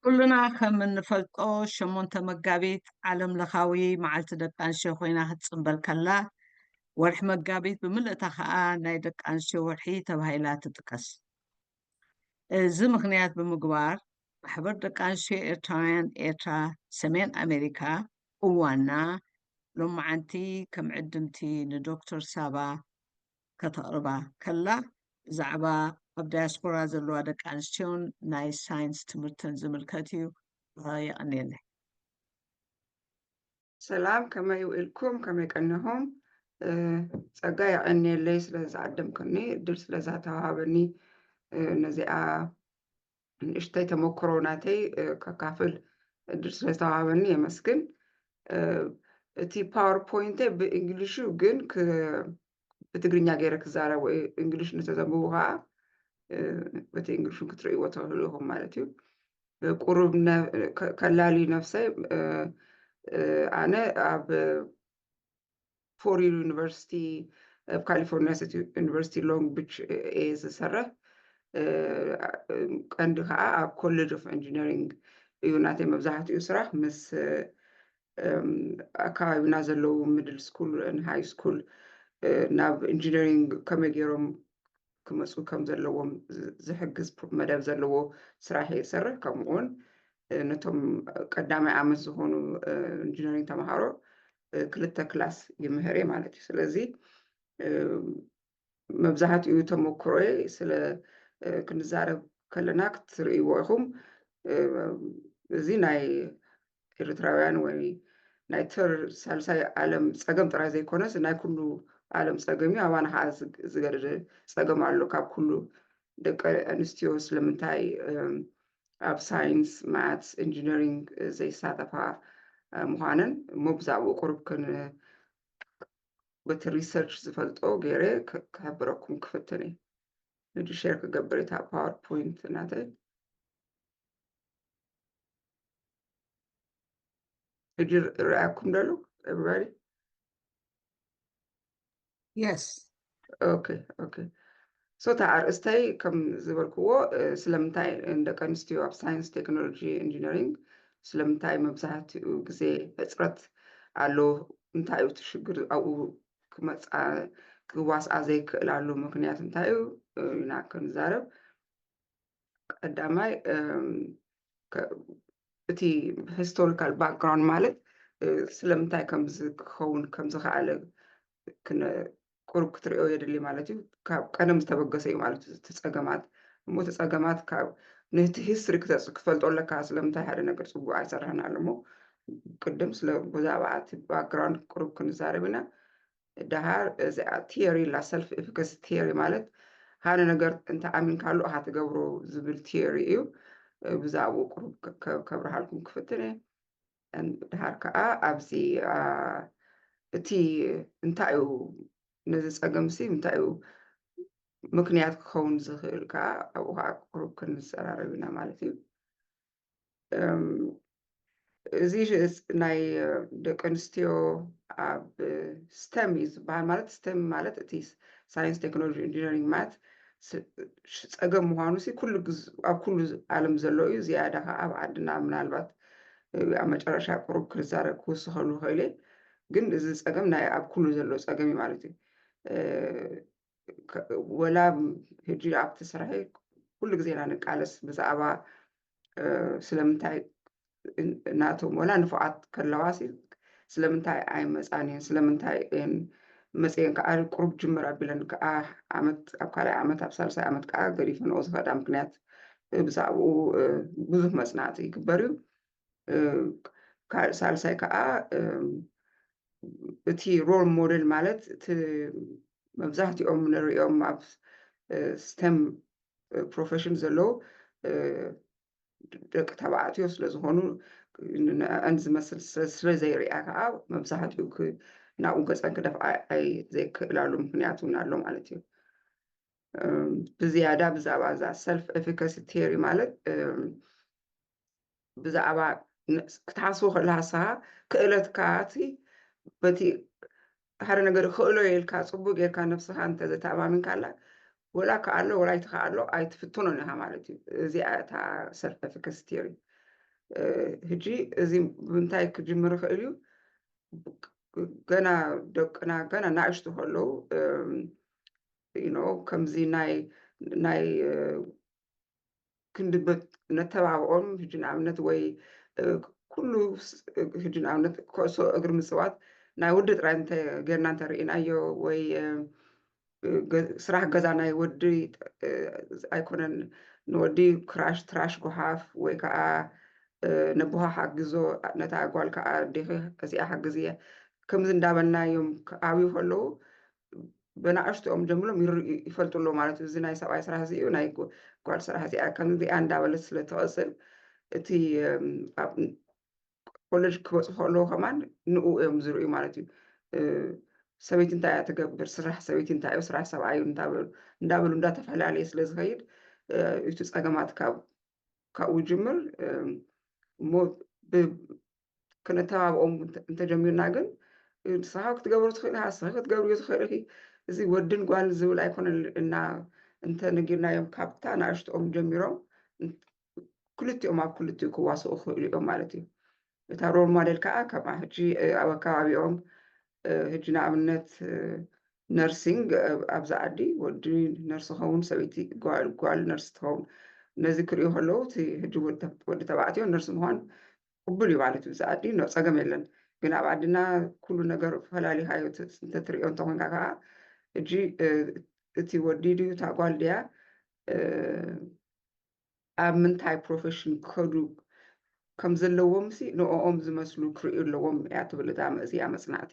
ኩልና ከም እንፈልጦ ሸሞንተ መጋቢት ዓለም ለኻዊ መዓልቲ ደቂ ኣንስትዮ ኮይና ክትፅምበል ከላ ወርሒ መጋቢት ብምልእታ ከዓ ናይ ደቂ ኣንስትዮ ወርሒ ተባሂላ ትጥቀስ። እዚ ምክንያት ብምግባር ማሕበር ደቂ ኣንስትዮ ኤርትራውያን ኤርትራ ሰሜን ኣሜሪካ እዋና ሎማዓንቲ ከም ዕድምቲ ንዶክተር ሳባ ከተቕርባ ከላ ብዛዕባ ኣብ ዳያስፖራ ዘለዋ ደቂ ኣንስትዮን ናይ ሳይንስ ትምህርተን ዝምልከት እዩ የቐንየለይ ሰላም ከመይ ውኢልኩም ከመይ ቀኒኹም ጸጋ የቐንየለይ ስለ ዝዓደምክኒ እድል ስለ ዛተዋሃበኒ ነዚኣ ንእሽተይ ተመክሮ ናተይ ከካፍል እድል ስለዝተዋሃበኒ የመስግን። እቲ ፓወርፖይንተ ብእንግሊሹ ግን ብትግርኛ ገይረ ክዛረብ ወይ እንግሊሽ ንተዘንብቡ ከዓ በቲ እንግሊሹ ክትርእይዎ ትኽእሉ ኢኹም ማለት እዩ። ቁሩብ ከላሊ ነፍሰይ ኣነ ኣብ ፎሪር ዩኒቨርሲቲ ኣብ ካሊፎርኒያ ስቴት ዩኒቨርሲቲ ሎንግ ቢች እየ ዝሰርሕ ቀንዲ ከዓ ኣብ ኮሌጅ ኦፍ ኢንጂነሪንግ እዩ ናተይ መብዛሕትኡ ስራሕ ምስ ኣከባቢና ዘለዉ ሚድል ስኩል ሃይ ስኩል ናብ ኢንጂነሪንግ ከመይ ገይሮም ክመጹ ከም ዘለዎም ዝሕግዝ መደብ ዘለዎ ስራሕ እየ ዝሰርሕ። ከምኡ እውን ነቶም ቀዳማይ ዓመት ዝኾኑ ኢንጂነሪንግ ተምሃሮ ክልተ ክላስ ይምህር እየ ማለት እዩ። ስለዚ መብዛሕትኡ ተመክሮይ ስለ ክንዛረብ ከለና ክትርእይዎ ኢኹም እዚ ናይ ኤርትራውያን ወይ ናይ ተር ሳልሳይ ዓለም ጸገም ጥራይ ዘይኮነስ ናይ ኩሉ ዓለም ጸገም እዩ። ኣባና ከዓ ዝገደደ ጸገም ኣሎ። ካብ ኩሉ ደቂ ኣንስትዮ ስለምንታይ ኣብ ሳይንስ፣ ማትስ፣ ኢንጂነሪንግ ዘይሳተፋ ምዃነን እሞ ብዛዕባኡ ቁሩብ በቲ ሪሰርች ዝፈልጦ ገይረ ክሕብረኩም ክፍትን እየ። ንዱ ሼር ክገብር እታ ፓወር ፖይንት ናተይ ሕጂ ርኣኩም ደሎ ኤቨሪባዲ የስ ኦኬ ኦኬ ሶ እታ ኣርእስተይ ከም ዝበልክዎ ስለምንታይ ደቂ ኣንስትዮ ኣብ ሳይንስ ቴክኖሎጂ ኢንጂነሪንግ ስለምንታይ መብዛሕትኡ ግዜ ሕፅረት ኣሎ እንታይ እዩ እቲ ሽግር ኣብኡ ክመፃ ክዋስኣ ዘይክእላሉ ምክንያት እንታይ እዩ ኢና ክንዛረብ ቀዳማይ እቲ ሂስቶሪካል ባክግራውንድ ማለት ስለምንታይ ከምዚ ክኸውን ከም ዝኸኣለ ቁሩብ ክትሪኦ የድሊ ማለት እዩ ካብ ቀደም ዝተበገሰ እዩ ማለት እዩ እቲ ፀገማት እሞ እቲ ፀገማት ካብ ነቲ ሂስትሪ ክፈልጦ ኣለካ ስለምንታይ ሓደ ነገር ፅቡቅ ኣይሰራሕን ኣሎ እሞ ቅድም ብዛዕባ እቲ ባክግራውንድ ቁሩብ ክንዛረብ ኢና ደሃር እዚኣ ቲዮሪ ላ ሰልፍ ኤፊካሲ ቲዮሪ ማለት ሓደ ነገር እንተኣሚንካሉ እኻ ትገብሮ ዝብል ቲዮሪ እዩ ብዛዕባኡ ቅሩብ ከብርሃልኩም ክፍትን እየ ደሃር ከዓ ኣብዚ እቲ እንታይ እዩ ነዚ ፀገም ሲ እንታይ እዩ ምክንያት ክኸውን ዝኽእል ከዓ ኣብኡ ከዓ ቅሩብ ክንዘራረብ ኢና ማለት እዩ እዚ ናይ ደቂ ኣንስትዮ ኣብ ስተም እዩ ዝበሃል ማለት ስተም ማለት እቲ ሳይንስ ቴክኖሎጂ ኢንጂነሪንግ ማት ፀገም ምዃኑ ሲ ኩሉ ኣብ ኩሉ ዓለም ዘሎ እዩ ዝያዳ ከዓ ኣብ ዓድና ምናልባት ኣብ መጨረሻ ቅሩብ ክዛረብ ክውስኸሉ ኸኢለ ግን እዚ ፀገም ናይ ኣብ ኩሉ ዘሎ ፀገም እዩ ማለት እዩ ወላ ሕጂ ኣብቲ ስራሐይ ኩሉ ግዜ ኢና ንቃለስ ብዛዕባ ስለምንታይ ናቶም ወላ ንፉዓት ከለዋ ስለምንታይ ኣይመፃን እየን ስለምንታይ እየን መፅየን ከዓ ቁሩብ ጅምር ኣቢለን ከዓ ዓመት ኣብ ካልኣይ ዓመት ኣብ ሳልሳይ ዓመት ከዓ ገዲፈንኦ ዝኸዳ ምክንያት ብዛዕባኡ ብዙሕ መፅናዕቲ ይግበር እዩ ሳልሳይ ከዓ እቲ ሮል ሞዴል ማለት እቲ መብዛሕትኦም ንሪኦም ኣብ ስተም ፕሮፌሽን ዘለዉ ደቂ ተባዕትዮ ስለዝኾኑ ንዕዐን ዝመስል ስለዘይርያ ከዓ መብዛሕትኡ ናብኡ ገፀን ክደፍኣ ዘይክእላሉ ምክንያት እውን ኣሎ ማለት እዩ ብዝያዳ ብዛዕባ እዛ ሰልፍ ኤፊካሲ ቴሪ ማለት ብዛዕባ ክትሓስቦ ከለሃሳ ክእለትካ እቲ በቲ ሓደ ነገር ክእሎ ኢልካ ፅቡቅ ጌርካ ነብስኻ እንተዘተኣማሚንካላ ወላ ከኣሎ ወላ ይትኸኣሎ ኣይትፍትኖን ኢኻ ማለት እዩ እዚኣ እታ ሰልፍ ኤፊካሲ ቲዮሪ ህጂ እዚ ብምንታይ ክጅምር ይኽእል እዩ ገና ደቅና ገና ናእሽቱ ከለዉ ከምዚ ናይ ናይ ክንድበት ነተባብዖም ሕጂ ንኣብነት ወይ ኩሉ ሕጂ ንኣብነት ኩዕሶ እግሪ ምፅዋት ናይ ወዲ ጥራይ ጌርና እንተርኢናዮ ወይ ስራሕ ገዛ ናይ ወዲ ኣይኮነን ንወዲ ክራሽ ትራሽ ጎሓፍ ወይ ከዓ ነቦሃ ሓግዞ ነታ ጓል ከዓ ዴኺ እዚኣ ሓግዝ እየ ከምዚ እንዳበልና እዮም ክዓብዩ ከለዉ በናእሽትኦም ጀምሎም ይርእዩ ይፈልጡ ኣሎ ማለት እዩ። እዚ ናይ ሰብኣይ ስራሕ እዚ እዩ ናይ ጓል ስራሕ እዚኣ ከምዚኣ እንዳበለት ስለ ትቕፅል እቲ ኣብ ኮለጅ ክበፅሑ ከለዉ ከማን ንኡ እዮም ዝርእዩ ማለት እዩ። ሰበይቲ እንታይ እያ ትገብር፣ ስራሕ ሰበይቲ እንታይ እዩ፣ ስራሕ ሰብኣይ እዩ እንዳበሉ እንዳተፈላለየ ስለ ዝኸይድ እቲ ፀገማት ካብ ካብኡ ጅምር እሞ ክነተባብኦም እንተጀሚርና ግን ንስኻ ክትገብሮ ትኽእል ኢኻ ንስኺ ክትገብርዮ ትኽእል ኢኺ እዚ ወድን ጓል ዝብል ኣይኮነ እና እንተነጊርናዮም ካብታ ንኣሽትኦም ጀሚሮም ክልቲኦም ኣብ ክልቲኡ ክዋስኡ ክኽእሉ እዮም ማለት እዩ እታ ሮል ሞዴል ከዓ ከምኣ ሕጂ ኣብ ኣከባቢኦም ሕጂ ንኣብነት ነርሲንግ ኣብዚ ዓዲ ወዲ ነርሲ ኸውን ሰበይቲ ጓል ነርሲ ትኸውን ነዚ ክሪኡ ከለዉ እቲ ሕጂ ወዲ ተባዕትዮ ነርሲ ምዃን ቅቡል እዩ ማለት እዩ እዚ ዓዲ ኖ ፀገም የለን ግን ኣብ ዓድና ኩሉ ነገር ፈላሊኻዮ እንተትሪኦ እንተኮንካ ከዓ ሕጂ እቲ ወዲ ድዩ እታ ጓል ድያ ኣብ ምንታይ ፕሮፈሽን ክኸዱ ከም ዘለዎምሲ ንኦም ዝመስሉ ክርእዩ ኣለዎም እያ ትብል እታ መእዝያ መጽናዕቲ።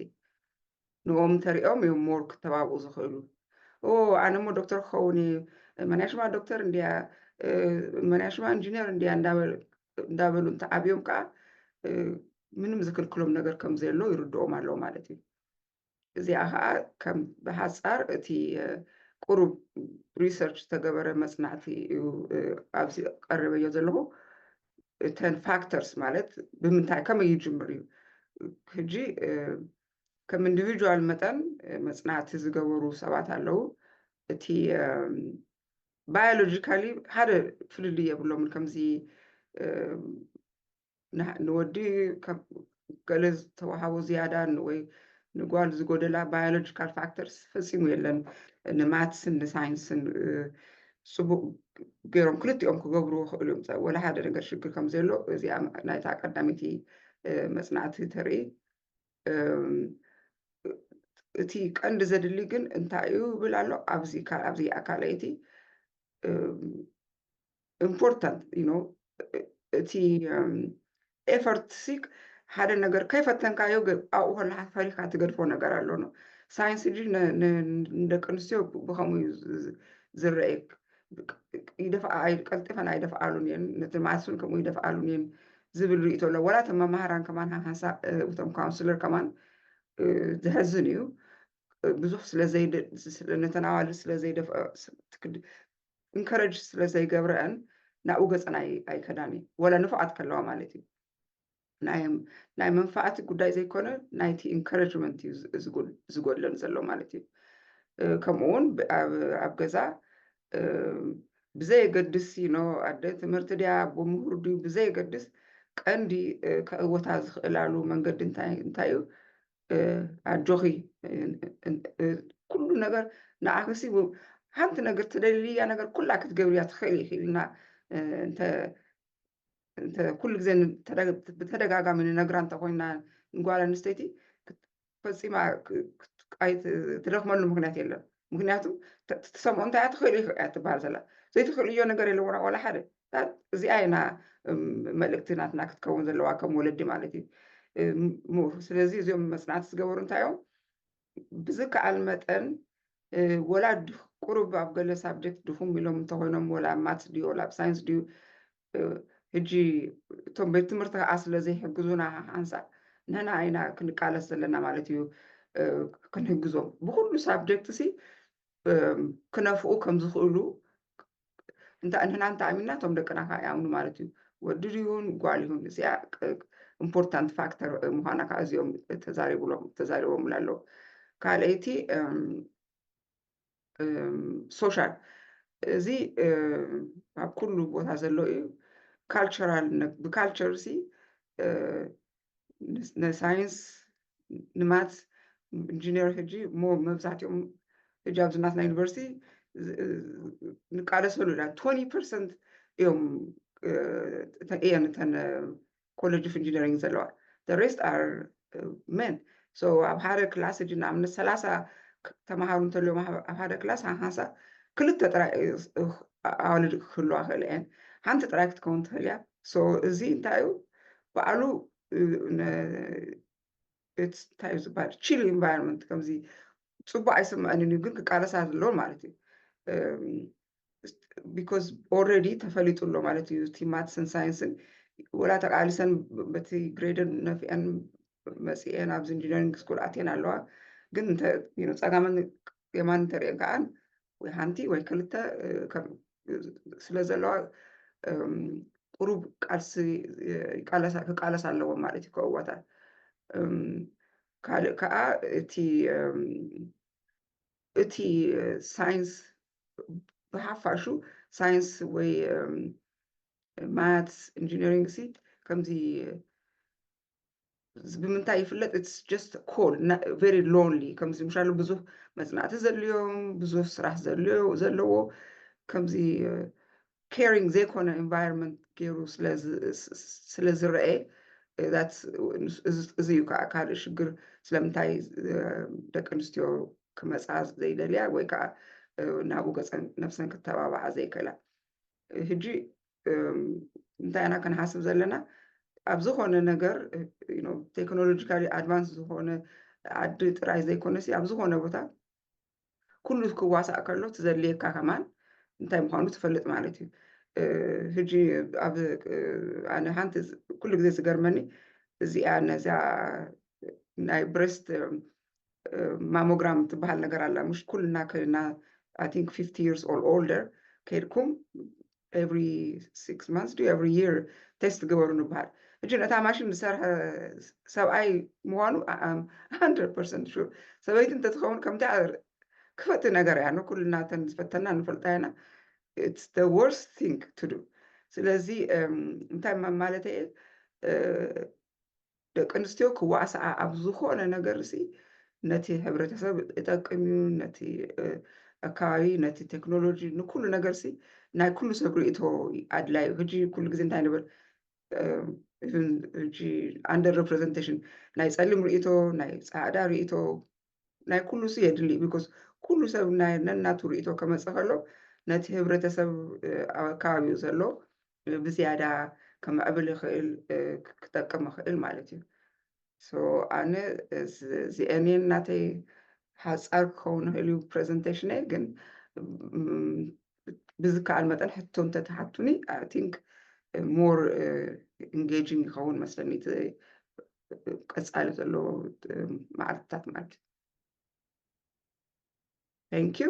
ንኦም እንተሪኦም እዮም ሞር ክተባብኡ ዝኽእሉ። ኦ ኣነ እሞ ዶክተር ክኸውን እየ፣ መንያ ሽማ ዶክተር እንድያ፣ መንያ ሽማ ኢንጂነር እንድያ እንዳበሉ እንተዓብዮም ከዓ ምንም ዝክልክሎም ነገር ከም ዘየሎ ይርድኦም ኣለዉ ማለት እዩ። እዚኣ ከዓ ከም ብሓፃር እቲ ቁሩብ ሪሰርች ዝተገበረ መፅናዕቲ እዩ ኣብዚ ቀሪበዮ ዘለኹ እተን ፋክተርስ ማለት ብምንታይ ከመይ ይጅምር እዩ ሕጂ ከም ኢንዲቪጁዋል መጠን መፅናዕቲ ዝገበሩ ሰባት ኣለዉ እቲ ባዮሎጂካሊ ሓደ ፍልልይ የብሎምን ከምዚ ንወዲ ካብ ገለ ዝተዋሃቦ ዝያዳ ወይ ንጓል ዝጎደላ ባዮሎጂካል ፋክተርስ ፈፂሙ የለን። ንማትስን ንሳይንስን ፅቡቕ ገይሮም ክልቲኦም ክገብርዎ ይኽእሉ እዮም። ወላ ሓደ ነገር ሽግር ከም ዘየሎ እዚኣ ናይታ ቀዳመይቲ መፅናዕቲ ተርኢ። እቲ ቀንዲ ዘድሊ ግን እንታይ እዩ ይብል ኣሎ ኣብዚ ኣብዚ ካልኣይቲ ኢምፖርታንት እቲ ኤፈርት ሲክ ሓደ ነገር ከይፈተንካዮ ኣብኡ ከለካ ፈሪካ ትገድፎ ነገር ኣሎ ን ሳይንስ ድ ንደቂ ኣንስትዮ ብከምኡ እዩ ዝረኤ ይደፍኣ ቀልጢፈን ኣይደፍኣሉን እየን ነቲ ማስን ከምኡ ይደፍኣሉን እየን ዝብል ርእቶ ኣሎ ወላ እቶም መማህራን ከማን ሃንሳ እቶም ካውንስለር ከማን ዘሕዝን እዩ ብዙሕ ስለዘይነተን ኣዋልድ ስለዘይደፍኦ እንከረጅ ስለ ዘይገብረአን ናብኡ ገፀን ኣይከዳን እዩ ወላ ንፉዓት ከለዋ ማለት እዩ ናይ መንፋዓቲ ጉዳይ ዘይኮነ ናይቲ ኢንካረጅመንት እዩ ዝጎድለን ዘሎ ማለት እዩ ከምኡ እውን ኣብ ገዛ ብዘየገድስ ኖ ኣደ ትምህርቲ ድያ ብምሁር ድዩ ብዘየገድስ ቀንዲ ከእወታ ዝኽእላሉ መንገዲ እንታይ እዩ ኣጆኺ ኩሉ ነገር ንዓኺሲ ሓንቲ ነገር ትደልያ ነገር ኩላ ክትገብርያ ትኽእል ኢኺ ኢልና ኩሉ ግዜ ብተደጋጋሚ ንነግራ እንተኮይና ንጓል ኣንስተይቲ ፈፂማ ትደኽመሉ ምክንያት የለን ምክንያቱ ትሰምዖ እንታይ ትኽእል እዩ እያ ትበሃል ዘላ ዘይትኽእልዮ ነገር የለዎና ዋላ ሓደ እዚኣ ኢና መልእክቲ ናትና ክትከውን ዘለዋ ከም ወለዲ ማለት እዩ ስለዚ እዚኦም መፅናዕቲ ዝገበሩ እንታይ እዮም ብዝከኣል መጠን ወላ ቁሩብ ኣብ ገለ ሳብጀክት ድኹም ኢሎም እንተኮይኖም ወላ ማትስ ድዩ ወላ ሳይንስ ድዩ ሕጂ እቶም ቤት ትምህርቲ ከዓ ስለዘይሕግዙና ሓንሳእ ንሕና ኢና ክንቃለስ ዘለና ማለት እዩ ክንሕግዞም ብኩሉ ሳብጀክት ሲ ክነፍኡ ከም ዝኽእሉ እንታይ ንሕና እንተኣሚንና እቶም ደቅና ከዓ ይኣምኑ ማለት እዩ ወዲ ይሁን ጓል ይሁን እዚኣ ኢምፖርታንት ፋክተር ምዃና ከዓ እዚኦም ተዛሪብሎም ተዛሪቦምላ ኣለዉ ካልኣይቲ ሶሻል እዚ ኣብ ኩሉ ቦታ ዘሎ እዩ ካልቸራል ብካልቸር ሲ ንሳይንስ ንማት ኢንጂነር ሕጂ እሞ መብዛሕትኦም ሕጂ ኣብዚ ናትና ዩኒቨርሲቲ ንቃለሰሉ ኢና ቶኒ ፐርሰንት እዮም እየን እተን ኮለጅ ኦፍ ኢንጂነሪንግ ዘለዋ the rest are men so ኣብ ሓደ ክላስ ሕጂ ንኣብነት ሰላሳ ተምሃሩ እንተልዮም ኣብ ሓደ ክላስ ሃንሳ ክልተ ጥራይ ኣዋልድ ክህልዋ ክእል እየን ሓንቲ ጥራይ ክትከውን ትኽእል እያ so እዚ እንታይ እዩ በዓሉ እንታይ እዩ ዝበሃል ቺል ኢንቫይሮንመንት ከምዚ ፅቡቅ ኣይስምዐንን እዩ ግን ክቃለሳ ዘለዎ ማለት እዩ ቢኮዝ ኦልሬዲ ተፈሊጡ ኣሎ ማለት እዩ እቲ ማትስን ሳይንስን ወላ ተቃሊሰን በቲ ግሬደን ነፍዐን መፅኤን ኣብዚ ኢንጂነሪንግ ስኩል ኣትየን ኣለዋ ግን ፀጋመን የማን እንተሪኤን ከዓ ወይ ሓንቲ ወይ ክልተ ስለ ዘለዋ ቁሩብ ቃልሲ ክቃለስ ኣለዎ ማለት እዩ ከእዋታት ካልእ ከዓ እቲ እቲ ሳይንስ ብሓፋሹ ሳይንስ ወይ ማትስ ኢንጂነሪንግ ሲ ከምዚ ብምንታይ ይፍለጥ ኢትስ ጀስት ኮል ቨሪ ሎንሊ ከምዚ ምሻሉ ብዙህ መፅናዕቲ ዘድልዮም ብዙህ ስራሕ ዘለዎ ከምዚ ኬሪንግ ዘይኮነ ኤንቫይሮንመንት ገይሩ ስለ ዝረአ እዚ እዩ ከዓ ካልእ ሽግር ስለምንታይ ደቂ ኣንስትዮ ክመፃ ዘይደልያ ወይ ከዓ ናብኡ ገፀን ነብሰን ክተባብዓ ዘይክእላ ሕጂ እንታይ ኢና ክንሓስብ ዘለና ኣብ ዝኾነ ነገር ቴክኖሎጂካሊ ኣድቫንስ ዝኾነ ዓዲ ጥራይ ዘይኮነሲ ኣብ ዝኾነ ቦታ ኩሉ ክዋሳእ ከሎ ትዘድልየካ ከማን እንታይ ምዃኑ ትፈልጥ ማለት እዩ ሕጂ ኣብ ኣነ ሓንቲ ኩሉ ግዜ ዝገርመኒ እዚኣ ነዚኣ ናይ ብሬስት ማሞግራም ትበሃል ነገር ኣላ ምሽ ኩልና ከድና ኣይ ቲንክ ፊፍቲ ይርስ ኦር ኦልደር ከድኩም ኤቭሪ ሲክስ ማንስ ዱ ኤቭሪ ይር ቴስት ግበሩ ንበሃል እጂ ነታ ማሽን ዝሰርሐ ሰብኣይ ምዃኑ ኣም ሃንድረድ ፐርሰንት ሹር ሰበይቲ እንተትኸውን ከምታ ክፈቲ ነገር እያ ንኩልና ተን ዝፈተና ንፈልጣ ኢና ኢትስ ደ ወርስ ቲንግ ቱ ዱ ስለዚ እንታይ ማለተ እየ ደቂ ኣንስትዮ ክዋስኣ ኣብ ዝኾነ ነገርሲ ነቲ ሕብረተሰብ እጠቅም እዩ ነቲ ኣከባቢ ነቲ ቴክኖሎጂ ንኩሉ ነገርሲ ናይ ኩሉ ሰብ ርእቶ ኣድላይ እዩ ሕጂ ኩሉ ግዜ እንታይ ንብል ሕጂ ኣንደር ሬፕሬዘንቴሽን ናይ ፀሊም ርእቶ ናይ ፃዕዳ ርእቶ ናይ ኩሉ ሲ የድሊ ቢኮዝ ኩሉ ሰብ ናይ ነናቱ ርእቶ ከመፀ ከሎ ነቲ ህብረተሰብ ኣብ ኣከባቢኡ ዘሎ ብዝያዳ ከምዕብል ይኽእል ክጠቅም ይኽእል ማለት እዩ ሶ ኣነ እዚአን እየን ናተይ ሓፃር ክኸውን ይኽእል እዩ ፕሬዘንቴሽነይ ግን ብዝከኣል መጠን ሕቶ እንተትሓቱኒ ኣይ ቲንክ ሞር ኢንጌጂንግ ይኸውን መስለኒ እቲ ቀፃሊ ዘለዎ መዓልትታት ማለት እዩ ታንኪዩ